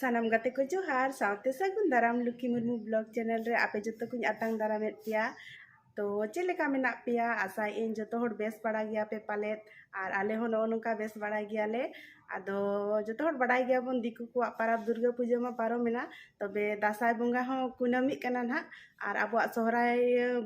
ᱥᱟᱱᱟᱢ ᱜᱟᱛᱮ ᱠᱚ ᱡᱚᱦᱟᱨ ᱥᱟᱶᱛᱮ ᱥᱟᱹᱜᱩᱱ ᱫᱟᱨᱟᱢ ᱞᱩᱠᱷᱤ ᱢᱩᱨᱢᱩ ᱵᱞᱚᱜ ᱪᱮᱱᱮᱞ ᱨᱮ ᱟᱯᱮ ᱡᱚᱛᱚ ᱠᱚᱧ ᱟᱛᱟᱝ ᱫᱟᱨᱟᱢᱮᱫ ᱯᱮᱭᱟ ᱛᱚ ᱪᱮᱫ ᱞᱮᱠᱟ ᱢᱮᱱᱟᱜ ᱯᱮᱭᱟ ᱟᱥᱟᱭᱮᱫ ᱟᱹᱧ ᱡᱚᱛᱚ ᱦᱚᱲ ᱵᱮᱥ ᱵᱟᱲᱟ ᱜᱮᱭᱟ ᱯᱮ ᱯᱟᱞᱮᱫ ᱟᱨ ᱟᱞᱮ ᱦᱚᱸ ᱱᱚᱜᱼᱚ ᱱᱚᱝᱠᱟ ᱵᱮᱥ ᱵᱟᱲᱟ ᱜᱮᱭᱟᱞᱮ ᱟᱫᱚ ᱡᱚᱛᱚ ᱦᱚᱲ ᱵᱟᱲᱟᱭ ᱜᱮᱭᱟᱵᱚᱱ ᱫᱤᱠᱩ ᱠᱚᱣᱟᱜ ᱯᱟᱨᱟᱵᱽ ᱫᱩᱨᱜᱟᱹ ᱯᱩᱡᱟᱹ ᱢᱟ ᱯᱟᱨᱚᱢᱮᱱᱟ ᱛᱚᱵᱮ ᱫᱟᱸᱥᱟᱭ ᱵᱚᱸᱜᱟ ᱦᱚᱸ ᱠᱩᱱᱟᱹᱢᱤᱜ ᱠᱟᱱᱟ ᱱᱟᱦᱟᱜ ᱟᱨ ᱟᱵᱚᱣᱟᱜ ᱥᱚᱦᱨᱟᱭ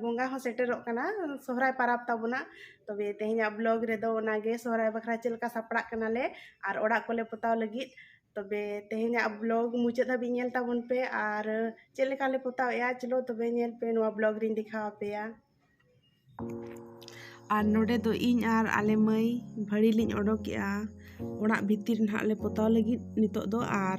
ᱵᱚᱸᱜᱟ ᱦᱚᱸ ᱥᱮᱴᱮᱨᱚᱜ ᱠᱟᱱᱟ ᱥᱚᱦᱨᱟᱭ ᱯᱟᱨᱟᱵᱽ ᱛᱟᱵᱚᱱᱟ ᱛᱚᱵᱮ ᱛᱮᱦᱮᱧᱟᱜ ᱵᱞᱚᱜ ᱨᱮᱫᱚ ᱚᱱᱟᱜᱮ ᱥᱚᱦᱨᱟᱭ ᱵᱟᱠᱷᱨᱟ ᱪᱮᱫ ᱞᱮᱠᱟ ᱥᱟᱯᱲᱟᱜ ᱠᱟᱱᱟᱞᱮ ᱟᱨ ᱚᱲᱟᱜ ᱠᱚᱞᱮ ᱯᱚᱛᱟᱣ ᱞᱟᱹᱜᱤᱫ ᱛᱚᱵᱮ ᱛᱮᱦᱮᱧᱟᱜ ᱵᱞᱚᱜ ᱢᱩᱪᱟᱹᱫ ᱫᱷᱟᱹᱵᱤᱡ ᱧᱮᱞ ᱛᱟᱵᱚᱱ ᱯᱮ ᱟᱨ ᱪᱮᱫ ᱞᱮᱠᱟᱞᱮ ᱯᱚᱛᱟᱣᱮᱜᱼᱟ ᱪᱚᱞᱚ ᱛᱚᱵᱮ ᱧᱮᱞ ᱯᱮ ᱱᱚᱣᱟ ᱵᱞᱚᱜ ᱨᱤᱧ ᱫᱮᱠᱷᱟᱣ ᱟᱯᱮᱭᱟ ᱟᱨ ᱱᱚᱰᱮ ᱫᱚ ᱤᱧ ᱟᱨ ᱟᱞᱮ ᱢᱟᱹᱭ ᱵᱷᱟᱹᱲᱤ ᱞᱤᱧ ᱚᱰᱚᱠᱮᱜᱼᱟ ᱚᱲᱟᱜ ᱵᱷᱤᱛᱤᱨ ᱱᱟᱦᱟᱜ ᱞᱮ ᱯᱚᱛᱟᱣ ᱞᱟᱹᱜᱤᱫ ᱱᱤᱛᱚᱜ ᱫᱚ ᱟᱨ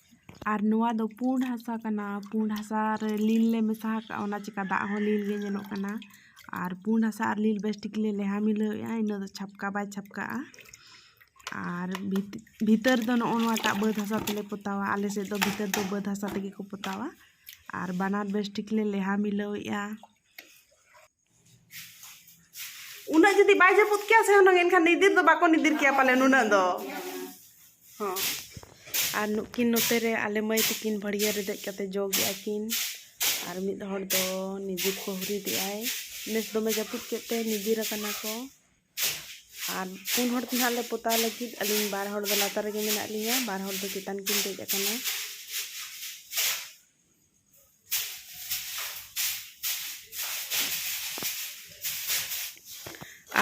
ᱟᱨ ᱱᱚᱣᱟ ᱫᱚ ᱯᱩᱸᱰ ᱦᱟᱥᱟ ᱠᱟᱱᱟ ᱯᱩᱸᱰ ᱦᱟᱥᱟ ᱨᱮ ᱞᱤᱞ ᱞᱮ ᱢᱮᱥᱟ ᱟᱠᱟᱫᱼᱟ ᱚᱱᱟ ᱪᱤᱠᱟᱹ ᱫᱟᱜ ᱦᱚᱸ ᱞᱤᱞ ᱜᱮ ᱧᱮᱞᱚᱜ ᱠᱟᱱᱟ ᱟᱨ ᱯᱩᱸᱰ ᱦᱟᱥᱟ ᱟᱨ ᱞᱤᱞ ᱵᱮᱥ ᱴᱷᱤᱠ ᱞᱮ ᱞᱮᱣᱦᱟ ᱢᱤᱞᱟᱹᱣᱮᱫᱼᱟ ᱤᱱᱟᱹ ᱫᱚ ᱪᱷᱟᱯᱠᱟ ᱵᱟᱭ ᱪᱷᱟᱯᱠᱟᱜᱼᱟ ᱟᱨ ᱵᱷᱤᱛᱟᱹᱨ ᱫᱚ ᱱᱚᱜᱼᱚ ᱱᱚᱣᱟᱴᱟᱜ ᱵᱟᱹᱫᱽ ᱦᱟᱥᱟ ᱛᱮᱞᱮ ᱯᱚᱛᱟᱣᱟ ᱟᱞᱮ ᱥᱮᱫ ᱫᱚ ᱵᱷᱤᱛᱟᱹᱨ ᱫᱚ ᱵᱟᱹᱫᱽ ᱦᱟᱥᱟ ᱛᱮᱜᱮ ᱠᱚ ᱯᱚᱛᱟᱣᱟ ᱟᱨ ᱵᱟᱱᱟᱨ ᱵᱮᱥ ᱴᱷᱤᱠ ᱞᱮ ᱞᱮᱣᱦᱟ ᱢᱤᱞᱟᱹᱣᱮᱫᱼᱟ ᱩᱱᱟᱹᱜ ᱡᱩᱫᱤ ᱵᱟᱭ ᱡᱟᱹᱯᱩᱫ ᱠᱮᱭᱟ ᱥᱮ ᱦᱩᱱᱟᱹᱝ ᱮᱱᱠᱷᱟᱱ ᱱᱤᱫᱤᱨ ᱫᱚ ᱵᱟᱠᱚ ᱱᱤᱫᱤᱨ ᱠᱮᱭᱟ ᱯᱟᱞᱮ ᱱᱩᱱᱟᱹᱜ ᱫᱚ ᱦᱚᱸ ᱟᱨ ᱱᱩᱠᱤᱱ ᱱᱚᱛᱮ ᱨᱮ ᱟᱞᱮ ᱢᱟᱹᱭ ᱛᱟᱹᱠᱤᱱ ᱵᱷᱟᱹᱲᱤᱭᱟᱹ ᱨᱮ ᱫᱮᱡ ᱠᱟᱛᱮ ᱡᱚᱜᱮᱜ ᱟᱹᱠᱤᱱ ᱟᱨ ᱢᱤᱫ ᱦᱚᱲ ᱫᱚ ᱱᱤᱫᱤᱨ ᱠᱚ ᱦᱩᱨᱤᱫᱮᱜ ᱟᱭ ᱱᱮᱥ ᱫᱚᱢᱮ ᱡᱟᱹᱯᱩᱫ ᱠᱮᱫ ᱛᱮ ᱱᱤᱫᱤᱨ ᱟᱠᱟᱱᱟ ᱠᱚ ᱟᱨ ᱯᱩᱱ ᱦᱚᱲ ᱛᱮ ᱱᱟᱦᱟᱜ ᱞᱮ ᱯᱚᱛᱟᱣ ᱞᱟᱹᱜᱤᱫ ᱟᱹᱞᱤᱧ ᱵᱟᱨ ᱦᱚᱲ ᱫᱚ ᱞᱟᱛᱟᱨ ᱨᱮᱜᱮ ᱢᱮᱱᱟᱜ ᱞᱤᱧᱟ ᱵᱟᱨ ᱦᱚᱲ ᱫᱚ ᱪᱮᱛᱟᱱ ᱠᱤᱱ ᱫᱮᱡ ᱟᱠᱟᱱᱟ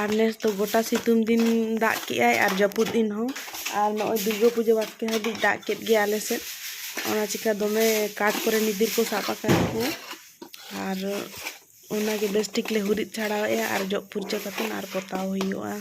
ᱟᱨ ᱱᱮᱥ ᱫᱚ ᱜᱚᱴᱟ ᱥᱤᱛᱩᱝ ᱫᱤᱱ ᱫᱟᱜ ᱠᱮᱜᱼᱟᱭ ᱟᱨ ᱡᱟᱹᱯᱩᱫ ᱫᱤᱱ ᱦᱚᱸ ᱟᱨ ᱱᱚᱜᱼᱚᱭ ᱫᱩᱨᱜᱟᱹ ᱯᱩᱡᱟᱹ ᱵᱟᱥᱠᱮ ᱦᱟᱹᱵᱤᱡ ᱫᱟᱜ ᱠᱮᱫ ᱜᱮᱭᱟ ᱟᱞᱮ ᱥᱮᱫ ᱚᱱᱟ ᱪᱤᱠᱟᱹ ᱫᱚᱢᱮ ᱠᱟᱴ ᱠᱚᱨᱮ ᱱᱤᱫᱤᱨ ᱠᱚ ᱥᱟᱵ ᱟᱠᱟᱫ ᱠᱚ ᱟᱨ ᱚᱱᱟᱜᱮ ᱵᱮᱥ ᱴᱷᱤᱠ ᱞᱮ ᱦᱩᱨᱤᱫ ᱪᱷᱟᱲᱟᱣᱮᱜᱼᱟ ᱟᱨ ᱡᱚᱜ ᱯᱷᱩᱨᱪᱟᱹ ᱠᱟᱛᱮᱫ ᱟᱨ ᱯᱚᱛᱟᱣ ᱦᱩᱭᱩᱜᱼᱟ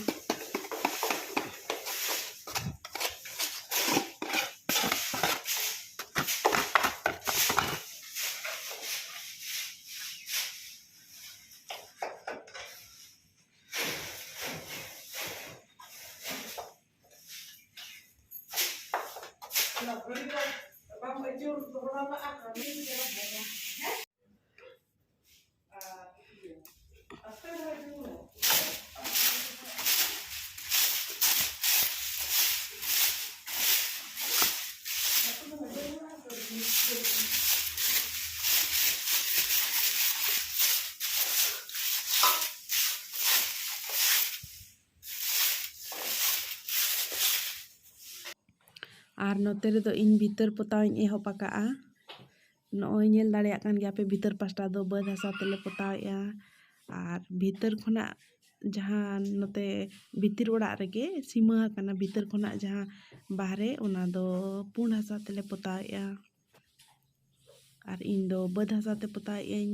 ᱟᱨ ᱱᱚᱛᱮ ᱨᱮᱫᱚ ᱤᱧ ᱵᱷᱤᱛᱟᱹᱨ ᱯᱚᱛᱟᱣᱤᱧ ᱮᱦᱚᱵ ᱟᱠᱟᱫᱼᱟ ᱱᱚᱜᱼᱚᱭ ᱧᱮᱞ ᱫᱟᱲᱮᱭᱟᱜ ᱠᱟᱱ ᱜᱮᱭᱟ ᱯᱮ ᱵᱷᱤᱛᱟᱹᱨ ᱯᱟᱥᱴᱟ ᱫᱚ ᱵᱟᱹᱫᱽ ᱦᱟᱥᱟ ᱛᱮᱞᱮ ᱯᱚᱛᱟᱣᱮᱜᱼᱟ ᱟᱨ ᱵᱷᱤᱛᱟᱹᱨ ᱠᱷᱚᱱᱟᱜ ᱡᱟᱦᱟᱸ ᱱᱚᱛᱮ ᱵᱷᱤᱛᱤᱨ ᱚᱲᱟᱜ ᱨᱮᱜᱮ ᱥᱤᱢᱟᱹ ᱟᱠᱟᱱᱟ ᱵᱷᱤᱛᱟᱹᱨ ᱠᱷᱚᱱᱟᱜ ᱡᱟᱦᱟᱸ ᱵᱟᱦᱨᱮ ᱚᱱᱟ ᱫᱚ ᱯᱩᱸᱰ ᱦᱟᱥᱟ ᱛᱮᱞᱮ ᱯᱚᱛᱟᱣᱮᱜᱼᱟ ᱟᱨ ᱤᱧ ᱫᱚ ᱵᱟᱹᱫᱽ ᱦᱟᱥᱟ ᱛᱮ ᱯᱚᱛᱟᱣᱮᱜ ᱟᱹᱧ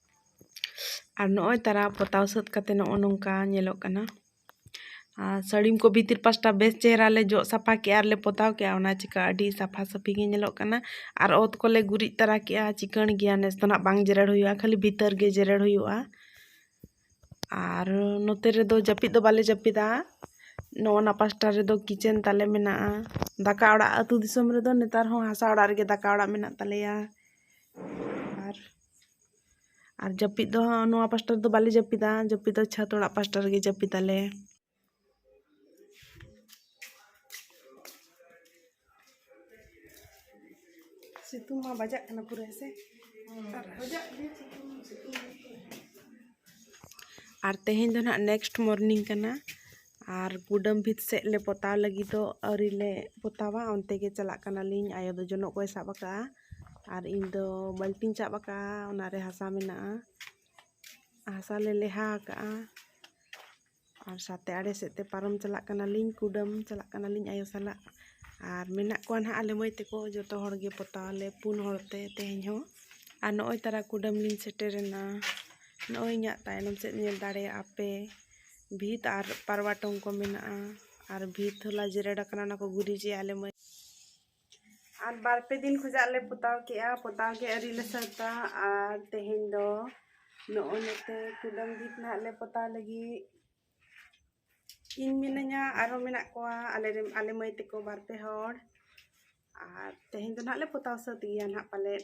ᱟᱨ ᱱᱚᱜᱼᱚᱭ ᱛᱟᱨᱟ ᱯᱚᱛᱟᱣ ᱥᱟᱹᱛ ᱠᱟᱛᱮ ᱱᱚᱜᱼᱚ ᱱᱚᱝᱠᱟ ᱧᱮᱞᱚᱜ ᱠᱟᱱᱟ ᱟᱨ ᱥᱟᱹᱲᱤᱢ ᱠᱚ ᱵᱷᱤᱛᱤᱨ ᱯᱟᱥᱴᱟ ᱵᱮᱥ ᱪᱮᱦᱨᱟ ᱞᱮ ᱡᱚᱜ ᱥᱟᱯᱷᱟ ᱠᱮᱫᱼᱟ ᱟᱨᱞᱮ ᱯᱚᱛᱟᱣ ᱠᱮᱫᱼᱟ ᱚᱱᱟ ᱪᱤᱠᱟᱹ ᱟᱹᱰᱤ ᱥᱟᱯᱷᱟ ᱥᱟᱹᱯᱷᱤ ᱜᱮ ᱧᱮᱞᱚᱜ ᱠᱟᱱᱟ ᱟᱨ ᱚᱛ ᱠᱚᱞᱮ ᱜᱩᱨᱤᱡ ᱛᱟᱨᱟ ᱠᱮᱫᱼᱟ ᱪᱤᱠᱟᱹᱬ ᱜᱮᱭᱟ ᱱᱮᱥ ᱫᱚ ᱱᱟᱦᱟᱜ ᱵᱟᱝ ᱡᱮᱨᱮᱲ ᱦᱩᱭᱩᱜᱼᱟ ᱠᱷᱟᱹᱞᱤ ᱵᱷᱤᱛᱟᱹᱨ ᱜᱮ ᱡᱮᱨᱮᱲ ᱦᱩᱭᱩᱜᱼᱟ ᱟᱨ ᱱᱚᱛᱮ ᱨᱮᱫᱚ ᱡᱟᱹᱯᱤᱫ ᱫᱚ ᱵᱟᱞᱮ ᱡᱟᱹᱯᱤᱫᱟ ᱱᱚᱜᱼᱚ ᱱᱟ ᱯᱟᱥᱴᱟ ᱨᱮᱫᱚ ᱠᱤᱪᱮᱱ ᱛᱟᱞᱮ ᱢᱮᱱᱟᱜᱼᱟ ᱫᱟᱠᱟ ᱚᱲᱟᱜ ᱟᱹᱛᱩ ᱫᱤᱥᱚᱢ ᱨᱮᱫᱚ ᱱᱮᱛᱟᱨ ᱦᱚᱸ ᱦᱟᱥᱟ ᱚᱲᱟᱜ ᱨᱮᱜᱮ ᱫᱟᱠᱟ ᱚᱲᱟᱜ ᱢᱮᱱᱟᱜ ᱛᱟᱞᱮᱭᱟ ᱟᱨ ᱟᱨ ᱡᱟᱹᱯᱤᱫ ᱫᱚ ᱱᱚᱣᱟ ᱯᱟᱥᱴᱟ ᱨᱮᱫᱚ ᱵᱟᱞᱮ ᱡᱟᱹᱯᱤᱫᱟ ᱡᱟᱹᱯᱤᱫ ᱫᱚ ᱪᱷᱟᱫᱽ ᱚᱲᱟᱜ ᱯᱟᱥᱴᱟ ᱨᱮᱜᱮ ᱡᱟᱹᱯᱤᱫᱟᱞᱮ ᱥᱤᱛᱩᱝ ᱢᱟ ᱵᱟᱡᱟᱜ ᱠᱟᱱᱟ ᱯᱩᱨᱟᱹ ᱦᱮᱸᱥᱮ ᱟᱨ ᱵᱟᱡᱟᱜ ᱜᱮ ᱥᱤᱛᱩᱝ ᱥᱤᱛᱩᱝ ᱟᱨ ᱛᱮᱦᱮᱧ ᱫᱚ ᱱᱟᱦᱟᱜ ᱱᱮᱠᱥᱴ ᱢᱚᱨᱱᱤᱝ ᱠᱟᱱᱟ ᱟᱨ ᱠᱩᱰᱟᱹᱢ ᱵᱷᱤᱛ ᱥᱮᱫ ᱞᱮ ᱯᱚᱛᱟᱣ ᱞᱟᱹᱜᱤᱫᱚᱜ ᱟᱹᱣᱨᱤ ᱞᱮ ᱯᱚᱛᱟᱣᱟ ᱚᱱᱛᱮ ᱜᱮ ᱪᱟᱞᱟᱜ ᱠᱟᱱᱟᱞᱤᱧ ᱟᱭᱳ ᱫᱚ ᱡᱚᱱᱚᱜ ᱠᱚᱭ ᱥᱟᱵ ᱟᱠᱟᱫᱼᱟ ᱟᱨ ᱤᱧ ᱫᱚ ᱵᱟᱹᱞᱴᱤᱧ ᱥᱟᱵ ᱟᱠᱟᱫᱼᱟ ᱚᱱᱟ ᱨᱮ ᱦᱟᱥᱟ ᱢᱮᱱᱟᱜᱼᱟ ᱦᱟᱥᱟ ᱞᱮ ᱞᱮᱦᱟ ᱟᱠᱟᱫᱼᱟ ᱟᱨ ᱥᱟᱛᱮ ᱟᱲᱮ ᱥᱮᱫ ᱛᱮ ᱯᱟᱨᱚᱢ ᱪᱟᱞᱟᱜ ᱠᱟᱱᱟᱞᱤᱧ ᱠᱩᱰᱟᱹᱢ ᱪᱟᱞᱟᱜ ᱠᱟᱱᱟᱞᱤᱧ ᱟᱭᱳ ᱥᱟᱞᱟᱜ ᱟᱨ ᱢᱮᱱᱟᱜ ᱠᱚᱣᱟ ᱱᱟᱦᱟᱜ ᱟᱞᱮ ᱢᱟᱹᱭ ᱛᱟᱠᱚ ᱡᱚᱛᱚ ᱦᱚᱲ ᱜᱮ ᱯᱚᱛᱟᱣ ᱟᱞᱮ ᱯᱩᱱ ᱦᱚᱲ ᱛᱮ ᱛᱮᱦᱮᱧ ᱦᱚᱸ ᱟᱨ ᱱᱚᱜᱼᱚᱭ ᱛᱟᱨᱟ ᱠᱩᱰᱟᱹᱢ ᱞᱤᱧ ᱥᱮᱴᱮᱨᱮᱱᱟ ᱱᱚᱜᱼᱚᱭ ᱤᱧᱟᱹᱜ ᱛᱟᱭᱱᱚᱢ ᱥᱮᱫ ᱧᱮᱞ ᱫᱟᱲᱮᱭᱟᱜᱼᱟ ᱯᱮ ᱵᱷᱤᱛ ᱟᱨ ᱯᱟᱨᱣᱟ ᱴᱚᱝ ᱠᱚ ᱢᱮᱱᱟᱜᱼᱟ ᱟᱨ ᱵᱷᱤᱛ ᱦᱚᱞᱟ ᱡᱮᱨᱮᱲ ᱟᱠᱟᱱᱟ ᱚᱱᱟ ᱠᱚ ᱜᱩᱨᱤᱡᱮᱜᱼᱟ ᱟᱞᱮ ᱢᱟᱹᱭ ᱟᱨ ᱵᱟᱨ ᱯᱮ ᱫᱤᱱ ᱠᱷᱚᱡᱟᱜ ᱞᱮ ᱯᱚᱛᱟᱣ ᱠᱮᱜᱼᱟ ᱯᱚᱛᱟᱣ ᱜᱮ ᱟᱹᱣᱨᱤ ᱞᱮ ᱥᱟᱹᱛᱟ ᱟᱨ ᱛᱮᱦᱮᱧ ᱫᱚ ᱱᱚᱜᱼᱚᱭ ᱱᱚᱛᱮ ᱠᱩᱰᱟᱹᱢ ᱵᱷᱤᱛ ᱱᱟᱦᱟᱜ ᱞᱮ ᱯᱚᱛᱟᱣ ᱞᱟᱹᱜᱤᱫ ᱤᱧ ᱢᱤᱱᱟᱹᱧᱟ ᱟᱨᱦᱚᱸ ᱢᱮᱱᱟᱜ ᱠᱚᱣᱟ ᱟᱞᱮ ᱨᱮᱱ ᱟᱞᱮ ᱢᱟᱹᱭ ᱛᱮᱠᱚ ᱵᱟᱨ ᱯᱮ ᱦᱚᱲ ᱟᱨ ᱛᱮᱦᱮᱧ ᱫᱚ ᱱᱟᱦᱟᱜ ᱞᱮ ᱯᱚᱛᱟᱣ ᱥᱟᱹᱛ ᱜᱮᱭᱟ ᱱᱟᱦᱟᱜ ᱯᱟᱞᱮᱫ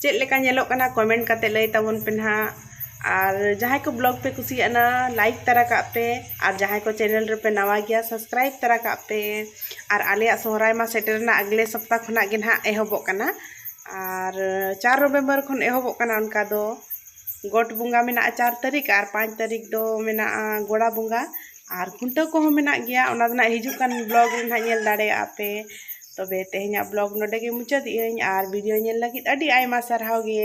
ᱪᱮᱫ ᱞᱮᱠᱟ ᱧᱮᱞᱚᱜ ᱠᱟᱱᱟ ᱠᱚᱢᱮᱱᱴ ᱠᱟᱛᱮ ᱞᱟᱹᱭ ᱛᱟᱵᱚᱱ ᱯᱮ ᱱᱟᱦᱟᱜ ᱟᱨ ᱡᱟᱦᱟᱸᱭ ᱠᱚ ᱵᱞᱚᱜᱽ ᱯᱮ ᱠᱩᱥᱤᱭᱟᱜ ᱠᱟᱱᱟ ᱞᱟᱭᱤᱠ ᱛᱟᱨᱟ ᱠᱟᱜ ᱯᱮ ᱟᱨ ᱡᱟᱦᱟᱸᱭ ᱠᱚ ᱪᱮᱱᱮᱞ ᱨᱮᱯᱮ ᱱᱟᱣᱟ ᱜᱮᱭᱟ ᱥᱟᱵᱥᱠᱨᱟᱭᱤᱵ ᱛᱟᱨᱟ ᱠᱟᱜ ᱯᱮ ᱟᱨ ᱟᱞᱮᱭᱟᱜ ᱥᱚᱦᱨᱟᱭ ᱢᱟ ᱥᱮᱴᱮᱨᱮᱱᱟ ᱟᱜᱽᱞᱮ ᱥᱚᱯᱛᱟ ᱠᱷᱚᱱᱟᱜ ᱜᱮ ᱱᱟᱦᱟᱜ ᱮᱦᱚᱵᱚᱜ ᱠᱟᱱᱟ ᱟᱨ ᱪᱟᱨ ᱱᱚᱵᱷᱮᱢᱵᱚᱨ ᱠᱷᱚᱱ ᱮᱦᱚᱵᱚᱜ ᱠᱟᱱᱟ ᱚᱱᱠᱟ ᱫᱚ ᱜᱚᱴ ᱵᱚᱸᱜᱟ ᱢᱮᱱᱟᱜᱼᱟ ᱪᱟᱨ ᱛᱟᱹᱨᱤᱠᱷ ᱟᱨ ᱯᱟᱸᱪ ᱛᱟᱹᱨᱤᱠᱷ ᱫᱚ ᱢᱮᱱᱟᱜᱼᱟ ᱜᱚᱲᱟ ᱵᱚᱸᱜᱟ ᱟᱨ ᱠᱷᱩᱱᱴᱟᱹᱣ ᱠᱚᱦᱚᱸ ᱢᱮᱱᱟᱜ ᱜᱮᱭᱟ ᱚᱱᱟ ᱫᱚ ᱱᱟᱜ ᱦᱤᱡᱩᱜ ᱠᱟᱱ ᱵᱞᱚᱜᱽ ᱨᱮ ᱱᱟᱜ ᱧᱮᱞ ᱫᱟᱲᱮᱭᱟᱜᱼᱟ ᱯᱮ ᱛᱚᱵᱮ ᱛᱮᱦᱮᱧᱟᱜ ᱵᱞᱚᱜᱽ ᱱᱚᱰᱮ ᱜᱮ ᱢᱩᱪᱟᱹᱫᱮᱜᱼᱟᱹᱧ ᱟᱨ ᱵᱷᱤᱰᱤᱭᱳ ᱧᱮᱞ ᱞᱟᱹᱜᱤᱫ ᱟᱹᱰᱤ ᱟᱭᱢᱟ ᱥᱟᱨᱦᱟᱣ ᱜᱮ